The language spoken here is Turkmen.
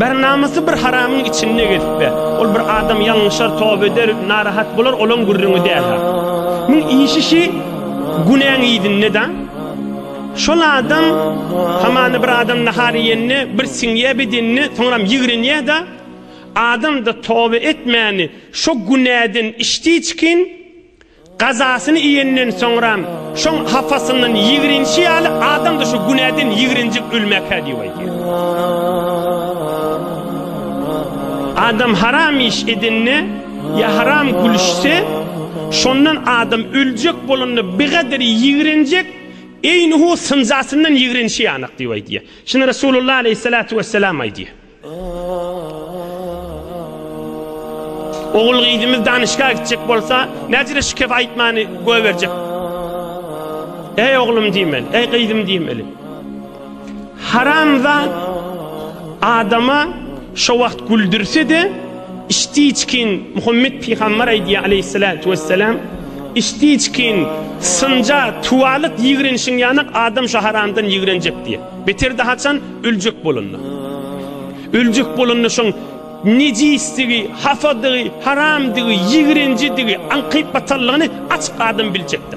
Bär namysy bir haramyň içinde gezip be. Ol bir adam ýalňyşar, toba eder, narahat bolar, olaň gürrüňi däl-hä. Muň işi şi günäň yzynda-da. Şol adam hamana bir adam nahar iýende bir siňýä bedenine, soňram ýigrenýä-de, Adam-da toba etmäni şo günäden içdiçkin, Gazasyny iýenden soňram şoň hapasyndan ýigrenişi ýaly adam-da şu günäden ýigrenjek ölmäkä diýip aýdýar. Adam haram iş edende ýa haram gülüşse, şondan adam öljek bolanda bigadir ýigrenjek, eýnuhu synjasyndan ýigrenişi ýanak diýip aýdýar. Şuny Resulullah aleýhissalatu wessalam aýdýar. Ogul gyzymyz danyşga gitjek bolsa näcire şikef aýtmany göýberjek. Eý oglum diýmeli, eý gyzym diýmeli. Haramza adama şo wagt güldürse de içdi içkin Muhammed pygamber aýdýar aleyhissalatu vesselam içdi içkin synja tuwalyk ýigrenişiň ýanak adam şo haramdan ýigrenjek diýe. Bitirdi haçan? Öljek bolanda. Öljek bolanda şoň nejisdigi, hapadygy, haramdygy, ýigrenjidigi, aňkyp batanlygyny açyk adam biljekdi.